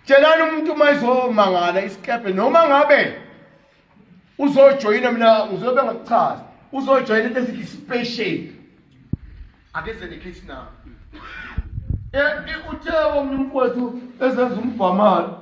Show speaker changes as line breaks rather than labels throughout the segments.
tshelani umuntu uma izomangala isikebhe noma ngabe uzojoyina mina ngizobe ngakuchaza uzojoyina into esithi special akeze nekithi na eh, uthe omnye umfowethu ezenza umbhamalo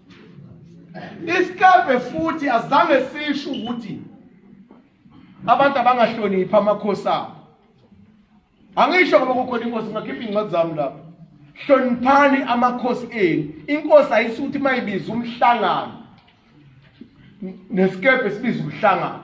Isikebhe futhi azange sisho ukuthi abantu abangahloniphi amakhosi abo. Angisho ngoba kukhona inkosi ngakhipha incwadi zami lapho. Hloniphani amakhosi enu. Inkosi ayisuthi mayibiza umhlangano. Nesikebhe sibiza umhlangano.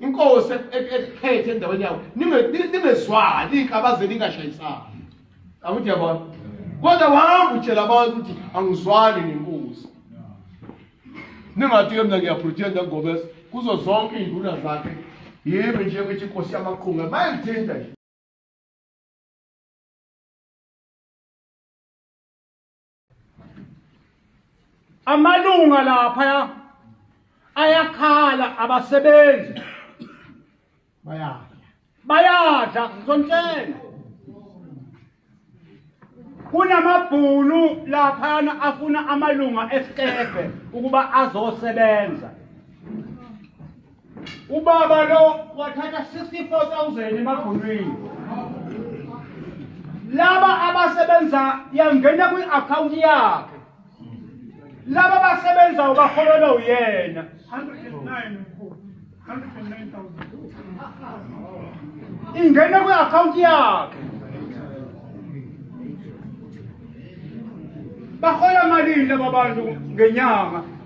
inkosi ekhethe endaweni yawo ningezwani kabaze ningashayisani akuthi yabona kodwa wahamba utshela abantu ukuthi angizwani nenkosi ningathi ke mina ngiyapretenda ngoba kuzo zonke iy'nduna zakhe yimi nje ukuthi inkosi yamaqhunga bayangithinta nje
amalunga laphaya ayakhala abasebenzi bayadla bayadla ngizontshela kunamabhunu laphana afuna amalunga esikebhe ukuba azosebenza Ubaba lo wathatha 64000 emabhonweni. Laba abasebenza yangena kwi account yakhe. Laba basebenza ubaholelwa uyena. 109 mkhulu. 109,000. Ingena kwi account yakhe. Bahola malini laba bantu ngenyanga?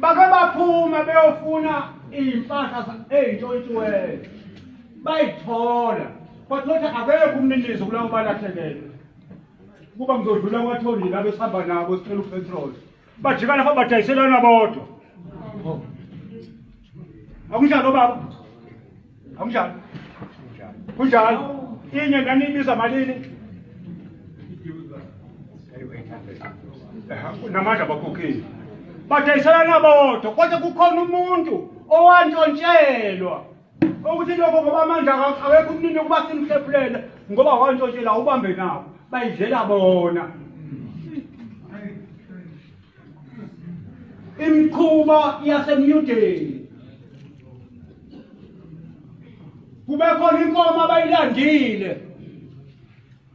bake baphume beyofuna iy'mpahla ey'ntshontshiweyo bayithola but lothi akekho umninizo kulabo balahlekelwe kuba ngizodlula kwathondile abesihamba nabo sicela upetrol bajikana fa badayiselana bodwa akunjalo baba Akunjalo. Kunjalo. Inye nganibiza malini? Namandla bakhokhile. Badayiselana bodwa kodwa kukhona umuntu owantshontshelwa ukuthi lokho ngoba amandla awekho umnini ukuba simhlephulele ngoba wantshontshelwa ubambe nabo bayidlela bona imikhuba yasemyudeni kube khona inkomo abayilandile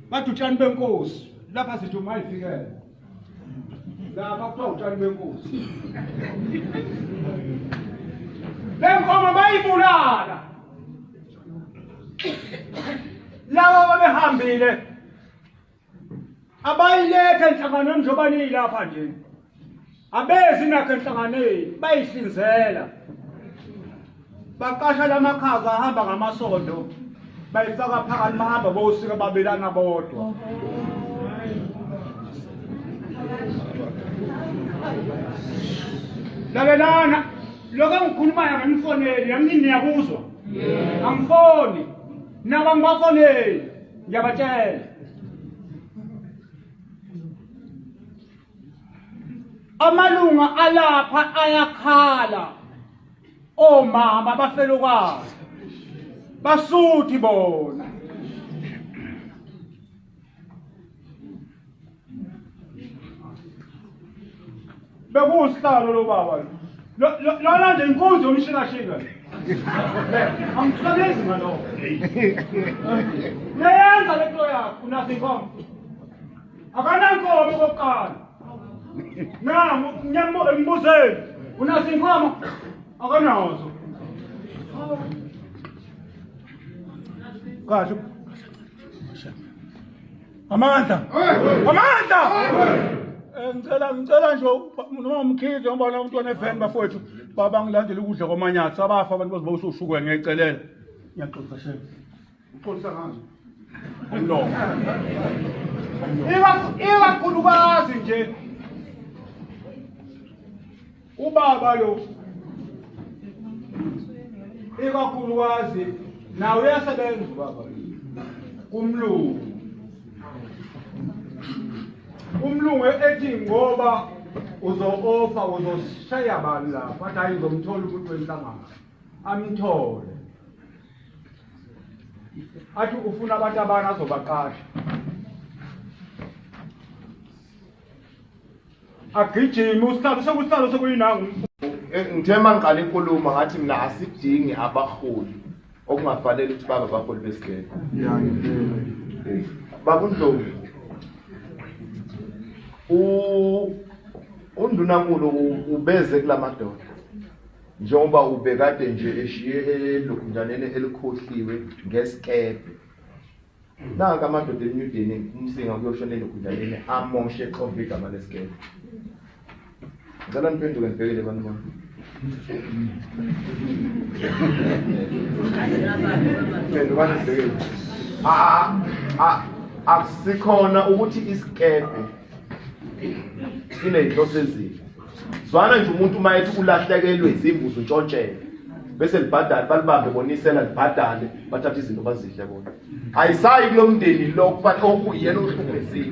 bathi utshani benkosi lapha sithi uma ifikele lapha kuthiwa utshani benkosi le nkomo bayibulala laba babehambile abayiletha enhlanganweni njengoba niyilapha nje abezi nakho enhlanganweni bayihlinzela baqasha lamakhaza ahamba ngamasondo bayifaka phakathi bahamba bowusika babelana bodwa lalelana lokho engikhulumayo ngemfoneli yamini niyakuzwa angifoni naba ngibafoneli ngiyabatshela amalunga alapha ayakhala omama bafelokazi basuthi bona bekuwusihlalo lo baba lona nje inkunzi yomshingashinga angikusebezi ngaloko uyayenza le nto yakho unazo inkomo akanankomo kokuqala nam ngiyambuzeni unazo inkomo akanazo kahle amandla amandla eh, ngicela ngicela nje noma umkhize ngoba na umntwana eveni bafowethu baba ngilandele ukudla kwamanyathi abafa abantu bazoba usushukwe ngiyacelela ngiyaxolisa shem uxolisa ngani umlomo iba iba khulukazi nje Ubaba lo ikakhulukazi nawe uyasebenza ubaba kumlungu umlungu ethi ngoba uzo-ofa uzosheya bani lapho athi hayi ngizomthola umuntu wenhlangano amthole athi ufuna abantu abani azobaqasha agijime usihlalo sekusihlalo sekuyinangu eh, ngithe
uma ngiqala inkulumo ngathi mina asidingi abaholi okungafanele ukuthi babe abaholi besigele bakundlovu undunankulu ubeze kula madoda njengoba ubekade nje eshiye elokhujaneni elikhohliwe ngesikebhe Naka amadoda eNew Delhi umsinga kuyoshonela egunjaneni amoshe exova igama lesigebe. Ngicela niphenduke nibhekele abantu bami. Phendukani nibhekele. Ah ah akusikhona ukuthi isikebe sineyinhloso ezile. zwana nje umuntu uma ethi ulahlekelwe izimbuzi untshontshelwe bese libhadale balibambe bonisela libhadale bathathe izinto bazidle bona ayisayi kulo mndeni lo kufanele okuyena ohlukumezile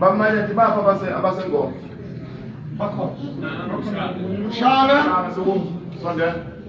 bamanye athi bapha abasengoma bakhona shaka sondela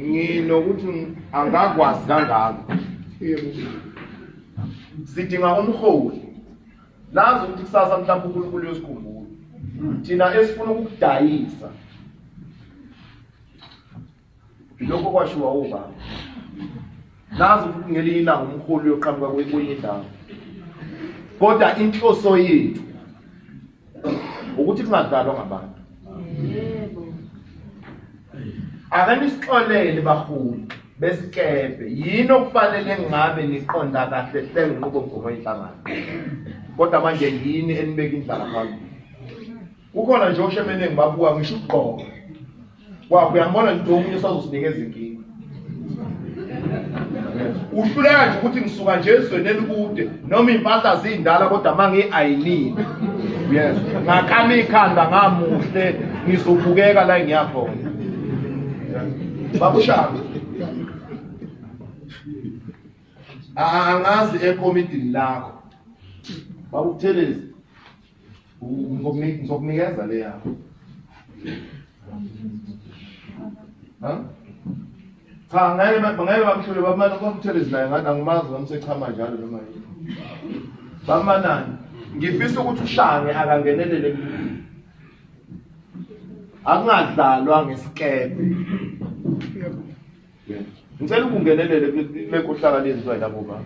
nginokuthi angakwazi kangako sidinga umholi lazi ukuthi kusasa mhlawumbe unkulunkulu yosikhumbula thina esifuna ukukudayisa lokho kwashiwa ubaba nazi ukuthi ngelinye ilanga umholi uyoqhamuka kwenye indawo kodwa inhloso yethu ukuthi kungadlalwa ngabantu ake nisixolele baholi besikebhe yini okufanele ngabe niqonda kahle hle nginqubo mgomo inhlangano kodwa manje yini enibeka indlala phambili kukhona nje oshemene ngibabuka ngisho ukugqoka wakho uyambona nje omunye usazosinikeza inkinga uhluleka nje ukuthi ngisuka nje ezweni elikude noma iy'mpahla ziyindala kodwa uma ngiyi-ayinile yes ngakama ikhanda ngamuhle ngizobukeka la ngiyakhona babushaka angazi ekomidini lakho babukuthelezi ngizokunikeza le yakho cha ngeke ngeke bamhlule bamane kwamthelezi naye ngathi angimazi ngamsechama njalo noma yini bamanani ngifisa ukuthi ushange akangenelele akungadlalwa ngesikebhe ngicela ukungenelele kule kohlaka lezizwa yilabo baba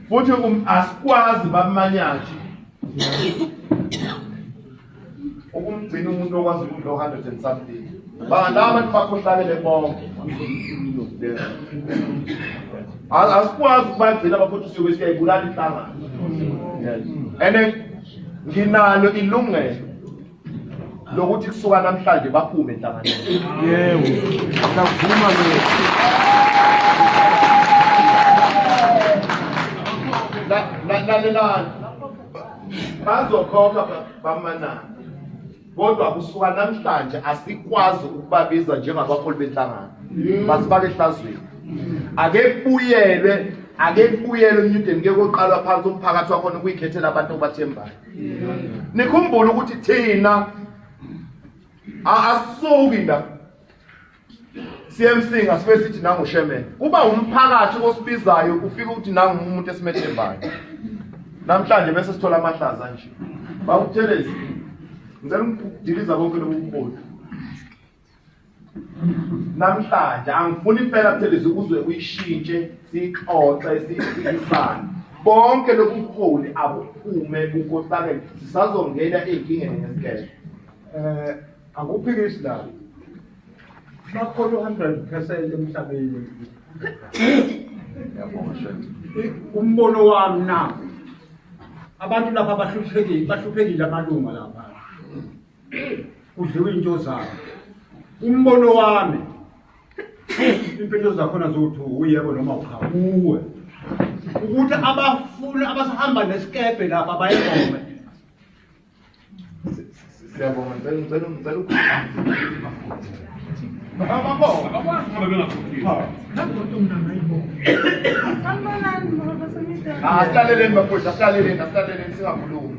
futhi um, asikwazi bamanyathi ukumgcina umuntu okwazi ukudla o-hundred and something bangala abantu bakhohlakele bonke asikwazi ukubagcina bafuthi usuke siyayibulala inhlangano and nginalo ilungelo lokuthi kusuka namhlanje baphume enhlanganweni yebo ngavuma lokho lalelani bazokhokha bamanana kodwa kusuka namhlanje asikwazi ukubabiza njengabaholi benhlangano basibake ehlazweni ake kubuyelwe ake kubuyelwe emnyudeni ke koqalwa phansi umphakathi wakhona ukuyikhethela abantu obathembayo nikhumbule ukuthi thina asisuki la siyemsinga sibe sithi nangushemele kuba umphakathi osibizayo ufika ukuthi nangumuntu esimethembayo namhlanje bese sithola amahlaza nje bawuthelezi ngicela ukudiliza konke lobu bubodu namhlanje angifuni impela buthelezi ukuze uyishintshe siyixoxe siyiphikisane bonke lobuholi abuphume kukohlakele sisazongena ey'nkingeni ngesigele um eh, akuphikisi
la bakhona u-hundred percent emhlabeni umbono wami na abantu lapha bahluphekile bahluphekile amalunga lapha kudliwa into zabo umbono wami impilo zakhona zokuthi uyebo noma cha kuwe ukuthi abafuni abasahamba nesikebhe lapha bayegome
siyabonga ngicela ngicela ngicela ukukhuluma asilaleleni bafowethu asilaleleni asilaleleni singakhulumi